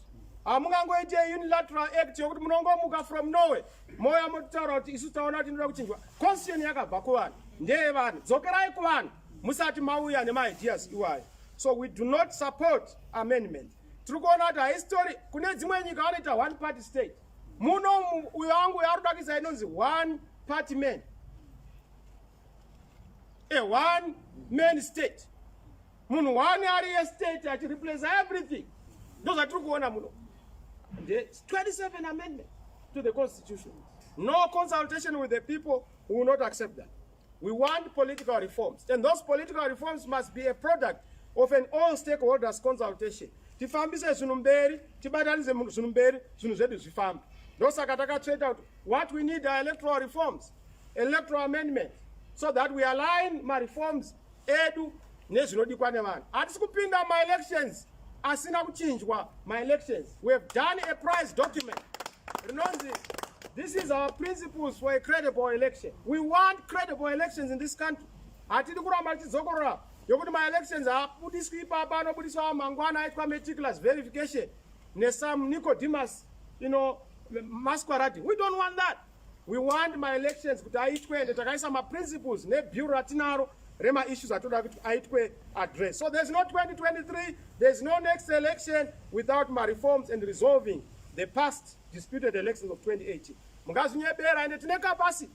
hamungangoite ah, unilateral act yokuti munongomuka from norway moya mototaura kuti isu taona kuti inoda kuchinjwa constitution yakabva kuvanhu ndeye vanhu dzokerai kuvanhu musati mauya nemaideas iwayo so we do not support amendment tiri kuona kuti haistori kune dzimwe nyika vanoita one party state muno uyo wangu yaari kudakisa inonzi one party man a one man state munhu one ari estate achireplace everything ndozvatiri kuona muno the 27 amendment to the constitution no consultation with the people will not accept that we want political reforms and those political reforms must be a product of an all stakeholders consultation tifambise zvinhu mberi tibatanise zvinhu mberi zvinhu zvedu zvifambe ndosaka takatsveta kuti what we need are electoral reforms electoral amendment so that we align mareforms edu nezvinodikwa nevanhu hatisi kupinda maelections asina kuchinjwa maelections we have done a price document rinonzi this is our principles for a credible election we want credible elections in this country hatidi kuramba tichidzokorora yokuti maelections haabudiswi ipapa anobudiswa mangwana aitwa meticulous verification nesome nicodemus you know masquerading we don't want that We want my elections kuti aitwe ende takaisa ma principles ne bureau ratinaro rema issues atoda kuti aitwe address. So there's no 2023, there's no next election without my reforms and resolving the past disputed elections of 2018. Mungazinyebera ende tine capacity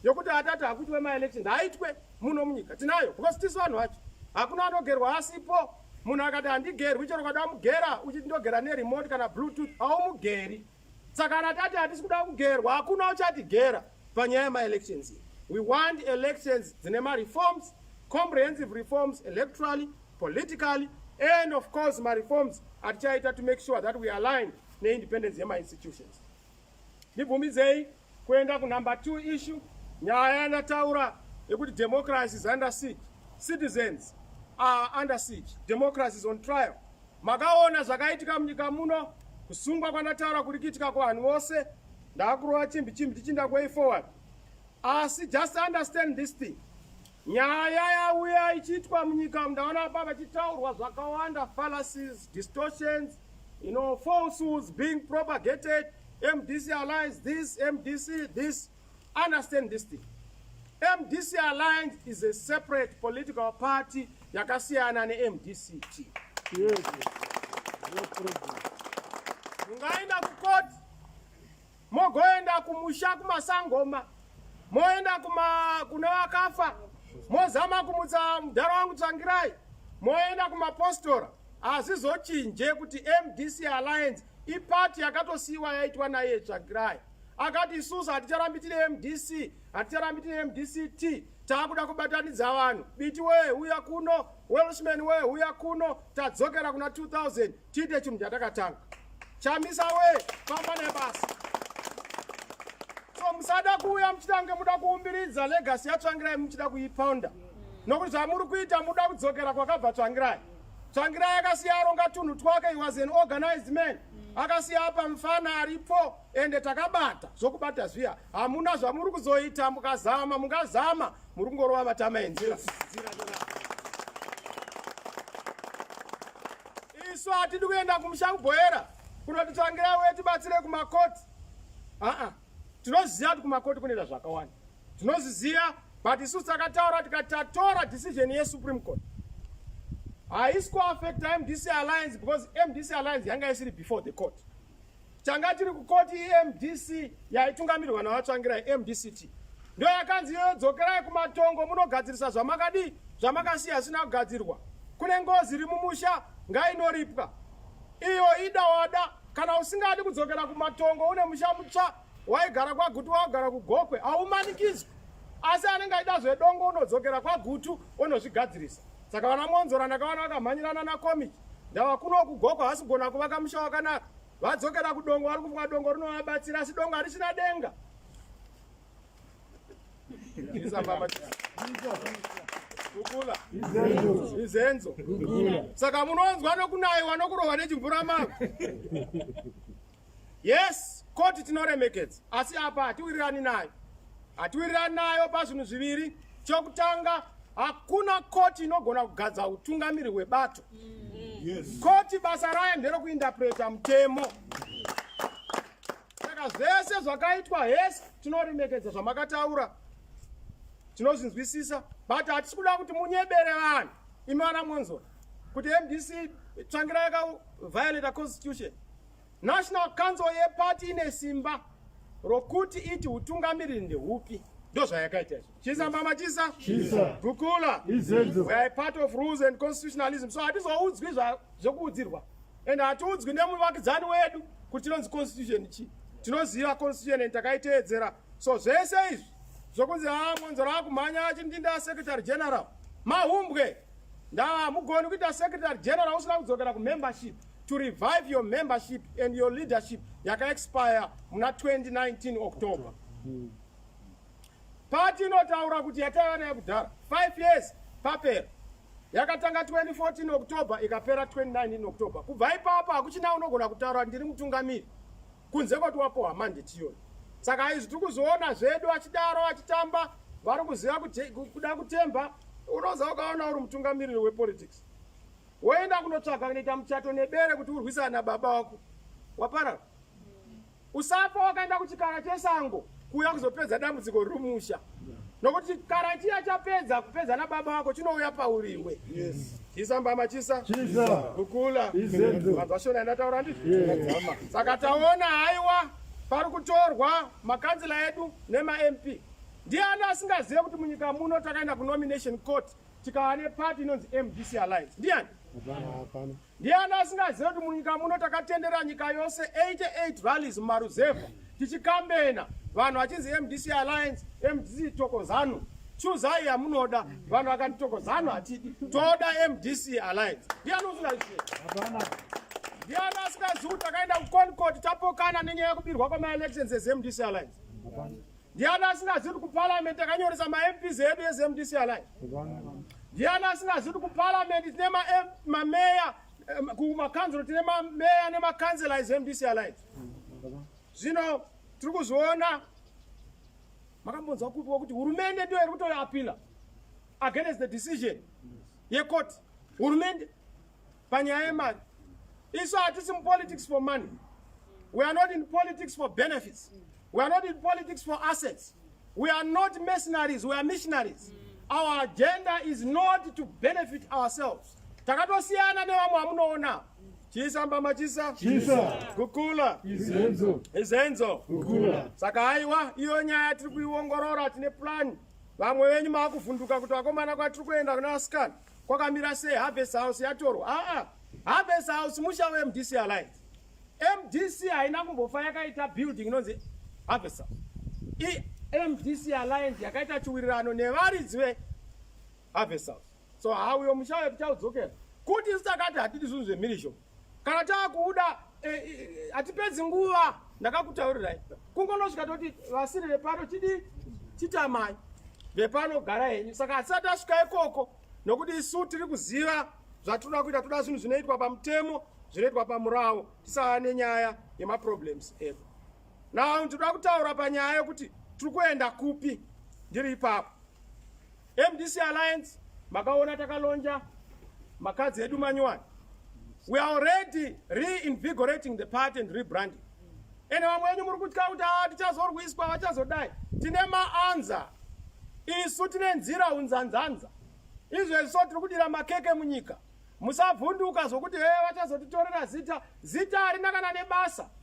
yokuti atati hakutwe ma elections haitwe muno munyika tinayo because tisu vanhu vacho hakuna anogerwa asipo munhu akati handigerwi chero ukada mugera uchiti ndogera neremote kana bluetooth haumugeri Saka kana tati hatisi kuda kugerwa hakuna uchatigera panyaya yemaelections iyi. We want elections dzine mareforms, comprehensive reforms electorally, politically and of course mareforms atichaita to make sure that we align neindependence yemainstitutions. Ndibvumidzei Kuenda kunumber two issue, nyaya yanataura yekuti democracy is under siege, citizens are under siege, democracy is on trial. Makaona zvakaitika munyika muno, kusungwa kwanataura kuri kuitika kuvanhu vose, ndakurova chimbi chimbi chichinda way forward. Asi just understand this thing. Nyaya yauya ichiitwa munyika umu ndaona apa vachitaurwa zvakawanda fallacies, distortions, you know, falsehoods being propagated, MDC Alliance this, MDC this. Understand this thing. MDC Alliance is a separate political party yakasiyana neMDC team. Yes. No problem. Ungaenda kukoti mogoenda kumusha kumasangoma moenda kuma kune vakafa mozama kumutsa mudhara wangu tsvangirai moenda kumapostora hazvizochinje kuti mdc alliance ipati yakatosiyiwa yaitwa naiye tsvangirai akati isusu haticharambi tine mdc haticharambi tine mdc t taakuda kubatanidza vanhu biti wee huya kuno welshman wee huya kuno tadzokera kuna 2000 tiite chinhu chatakatanga chamisa we famba nebasa so musada kuuya muchitange muda kuumbiridza legasi yatsvangirai muchida kuipounda nokuti zvamuri kuita muda kudzokera kwakabva tsvangirai tsvangirai akasiya aronga tunhu twake he was an organized man akasiya apa mfana aripo ende takabata zvokubata zviya hamuna zvamuri kuzoita mukazama mungazama muri kungorova matama enzira isu hatidi kuenda kumusha kubhoera kunotitsvangira uye tibatsire kumakoti aa tinoziva kuti kumakoti kunoita zvakawanda tinozviziva but isu takataura tikati tatora decision yesupreme court haisi kuaffecta mdc alliance because mdc alliance yanga isiri before the court Tanga tiri kukoti iMDC yaitungamirwa naVaTsvangirai MDCT ndiyo yakanzi iyoyo dzokerai kumatongo munogadzirisa zvamakadii zvamakasiya asina kugadzirwa kune ngozi iri mumusha ngainoripwa iyo ida wada kana usingadi kudzokera kumatongo une musha mutsva waigara kwagutu waugara kugokwe haumanikidzwi asi anenge aida zvedongo unodzokera kwagutu unozvigadzirisa saka vana mwonzora ndakawana vakamhanyirana nacomic ndava kuno kugoko hasi kugona kuvaka musha wakanaka vadzokera kudongo vari kufunga dongo rinovabatsira asi dongo harisina denga kukula izenzo saka munonzwa nokunayiwa nokurohwa nechimvura mako Yes, koti tinoremekedza asi apa hatiwirirani nayo. Hatiwirirani nayo pazvinhu zviviri. Chokutanga hakuna koti inogona kugadza utungamiri hwebato. Yes. Koti basa rayo nderokuindapreta mutemo. Saka zvese zvakaitwa hesi tinoremekedza zvamakataura tinozvinzwisisa but hatisi kuda kuti munyebere vanhu imi vana monzwa kuti mdc tsvangira yakaviolata constitution National Council yeparty ine simba rokuti iti utungamiriri ndehupi ndozvayakaita izvo chisa mama chisa gukula we are part of rules and constitutionalism so hatizoudzwi zvekuudzirwa and hatiudzwi nemuvakidzani wedu kuti tinonzi constitution chii tinoziva constitution and takaiteedzera so zvese izvi zvokunzi ha ah, mwanzoro akumhanya achindinda secretary general mahumbwe ndaa mugoni kuita secretary general usina kudzokera kumembership to revive your membership and your leadership yakaexpire muna 2019 october pati inotaura kuti yataiva nayo kudhara 5 years papera yakatanga 2014 october ikapera 2019 october kubva ipapo hakuchina unogona kutaura ndiri mutungamiri kunze kwati wapohwa mandeti iyoyo saka izvi tiri kuzoona zvedu achidaro achitamba vari kuziva kuda kutemba unoza ukaona uri mutungamiriri wepolitics Woenda kunotsvaga kunoita muchato nebere kuti urwisana nababa wako. Waparara. Usafa wakaenda kuchikara chesango kuuya kuzopedza dambudziko riri musha. Nokuti chikara chiya chapedza kupedza nababa wako chinouya pauriwe. Yes. Chisa mbama chisa. Chisa. Kukula. Izenzo. Mazvashona ndataura ndizvo. Yes. Saka taona haiwa pari kutorwa makanzila edu nema MP. Ndiani asingazive kuti munyika muno takaenda kunomination court tikava nepati inonzi mdc alliance ndiani ndiani asingazive kuti munyika muno takatendera nyika yose 88 valleys mumaruzevha tichikambena vanhu vachinzi mdc alliance mdc tokozanu chuzai yamunoda vanhu vakati tokozanu hatidi toda mdc alliance ndiani usingazive ndiani asingazive kuti takaenda kuconcord tapokana nenyaya yekubirwa kwamaelections ezmdc alliance Ndiani asingazivi kuti kuparliament takanyoresa maMPs edu eZMDC Alliance? Ndiani asingazivi kuti kuparliament tine mameya kumakanzuro tine mameya nemakanzela eZMDC Alliance? Zvino tiri kuzviona makambonzwa kupiwa kuti hurumende ndiyo iri kutoapila against the decision yecourt hurumende panyaya yemari isu hatisi mupolitics for money we are not in politics for benefits we are not in politics for assets we are not mercenaries we are missionaries our agenda is not to benefit ourselves takatosiyana nevamwe vamunoona chisa mbama chisa kukula izenzo saka haiwa iyo nyaya tiri kuiongorora tine plani vamwe venyu maakuvhunduka kuti vakomana kwatiri kuenda kuna vasikana Kwakamira sei Harvest House yatorwa? Aa, Harvest House musha weMDC Alliance. MDC haina kumbofa yakaita building inonzi Harvest House. I MDC Alliance yakaita chiwirirano nevaridzi ve Harvest House. So hauyo musha wekuchaudzokera. Kuti sitakati hatidi zvinhu zvemhirizhonga. kana taakuuda e, e, hatipedzi nguva ndakakutaurirai kungonosvika toti vasiri vepano chidii chitamai vepano gara henyu saka hatisati asvika ikoko nokuti isu tiri kuziva zvatinoda kuita toda zvinhu zvinoitwa pamutemo zvinoitwa pamurawo tisava nenyaya yemaproblems edu now ndinoda kutaura panyaya yekuti tiri kuenda kupi ndiri ipapo MDC Alliance makaona takalonja makadzi edu manyowani. We are already reinvigorating the party and rebranding. Ene vamwe venyu muri kutya kuti ah, tichazorwiswa vachazodai. Tine maanza isu tine nzira unzanzanza izvezvi so tiri kudira makeke munyika musavhunduka zvokuti hee vachazotitorera zita zita harina kana nebasa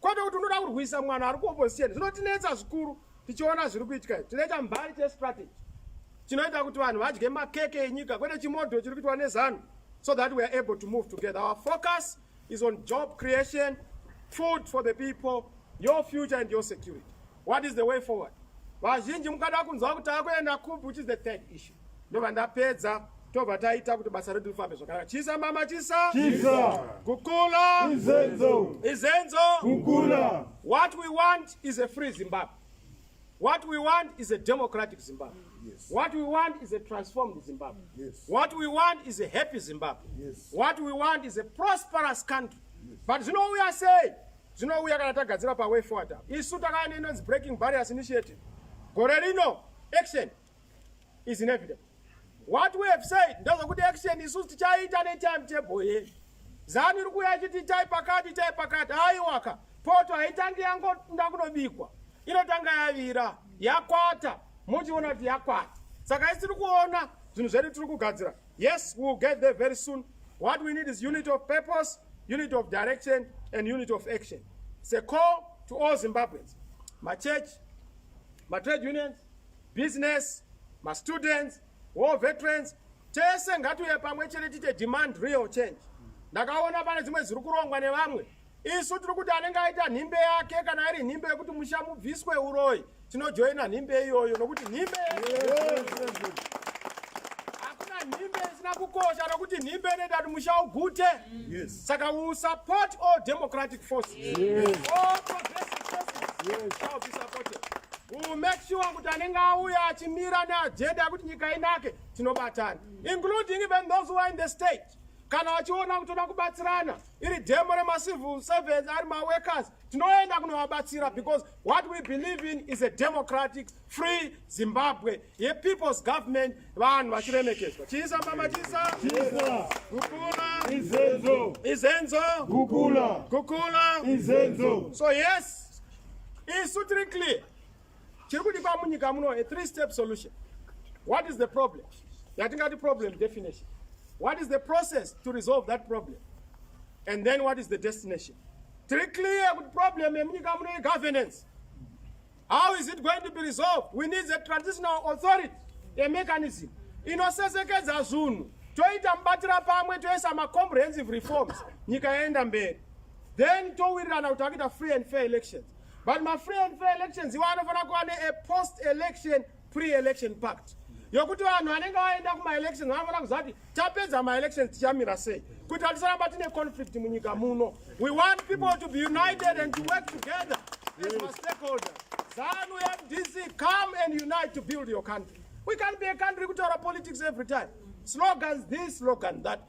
kwete kuti unoda kurwisa mwana ari kuopposition zvinotinetsa zvikuru tichiona zviri kuitika tinoita mbari chestrategy chinoita kuti vanhu vadye makeke enyika kwete chimodho chiri kuitwa nezanu so that we are able to move together our focus is on job creation food for the people your future and your security what is the way forward vazhinji mukada kunzwa kuti akuenda kupi which is the third issue ndobva ndapedza tobva taita kuti basa redu rifambe zvakanaka chisa mama chisa chisa kukula izenzo izenzo kukula what we want is a free zimbabwe what we want is a democratic zimbabwe yes. what we want is a transformed zimbabwe yes. what we want is a happy zimbabwe yes. what we want is a prosperous country yes. but zvinouya sei zvinouya kana tagadzira paway forward isu takaya neinonzi breaking barriers initiative gore rino action is inevitable what we have said ndozvokuti action isu tichaita netime table yedu zanu iri kuuya ichiti itai pakati itai pakati aiwaka poto haitangi yangoda kunobikwa inotanga yavira yakwata muchiona kuti yakwata saka isiri kuona zvinhu zvedu tiri kugadzira yes we will get there very soon what we need is unity of purpose unity of direction and unity of action it's a call to all zimbabweans machurch matrade unions business, ma students, war veterans, tese ngatiuye pamwe chete tite demand real change. Ndakaona pane dzimwe ziri kurongwa nevamwe. Isu tiri kuti anenge aita nhimbe yake kana iri nhimbe yekuti musha mubviswe uroyi tinojoina nhimbe iyoyo nokuti nhimbe hakuna nhimbe isina kukosha nokuti nhimbe inoita kuti musha ugute. Yes. Saka we will support all democratic forces. Yes. All progressive forces yes. shall be supported. We will make sure kuti anenge auya achimira neajenda yekuti nyika inake tinobatana including even those who are in the state kana vachiona kutoda kubatsirana iri demo remacivil servants ari maworkers tinoenda kunovabatsira because what we believe in is a democratic Free Zimbabwe ye people's government vanhu vachiremekedzwa chiisa mama chiisa kukula izenzo izenzo kukula kukula izenzo so yes isu tiri clear chiri kudikwa munyika muno a three step solution what is the problem yatingati problem definition what is the process to resolve that problem and then what is the destination tiri clear kuti problem yemunyika muno ye governance How is it going to be resolved? We need a transitional authority, a mechanism inosesekedza zvinhu toita mubatira pamwe toisa macomprehensive reforms nyika yaenda mberi then towirirana kuti akuita free and fair elections but mafree and fair elections iwo anofanira kuva ne a post election pre-election pact yokuti vanhu vanenge vaenda kumaelection vanofanira kuziva kuti tapedza maelection tichamira sei kuti hatisaramba tine conflict munyika muno we want people to be united and to work together as ma stakeholder zanu mdc come and unite to build your country we can't be a country kutaura politics every time slogans this slogan that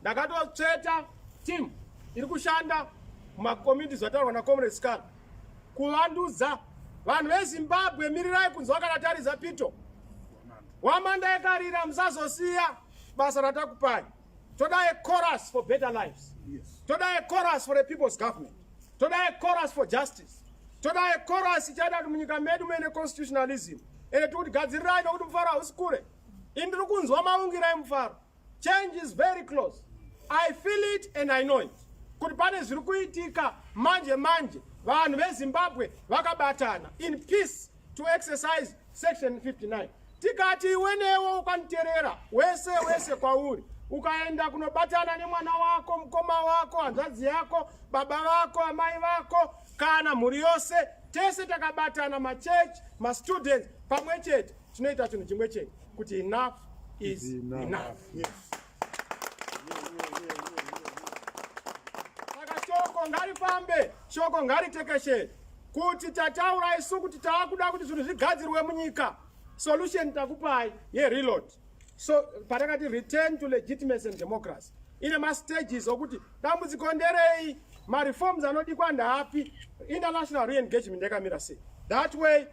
Ndakatotsveta team iri kushanda mumakomiti zvataurwa nacomrade scar kuvandudza vanhu vezimbabwe mirirai kunzi wakanataridza pito wamanda yekarira musazosiya basa ratakupai toda a chorus for better lives yes. toda a chorus for a people's government toda a chorus for justice toda a chorus ichaita kuti munyika medu muine constitutionalism ende tikuti gadzirirai nokuti mufaro hausi kure ini ndiri kunzwa maungirai mufaro Change is very close. I feel it and I know it. Kuti pane zviri kuitika manje manje vanhu veZimbabwe vakabatana in peace to exercise section 59. Tikati iwe newe ukaniterera wese wese kwauri ukaenda kunobatana nemwana wako, mukoma wako, hanzvadzi yako, baba vako, amai vako kana mhuri yose tese takabatana machechi mastudents pamwe chete tinoita chinhu chimwe chete kuti enough is enough saka shoko ngarifambe shoko ngaritekeshe kuti tataura isu kuti taakuda kuti zvinhu zvigadzirwe munyika solution takupai yereload so patakati return to legitimacy and democracy ine mastages okuti dambudziko nderei mareforms anodikwa ndaapi international reengagement yakamira sei that way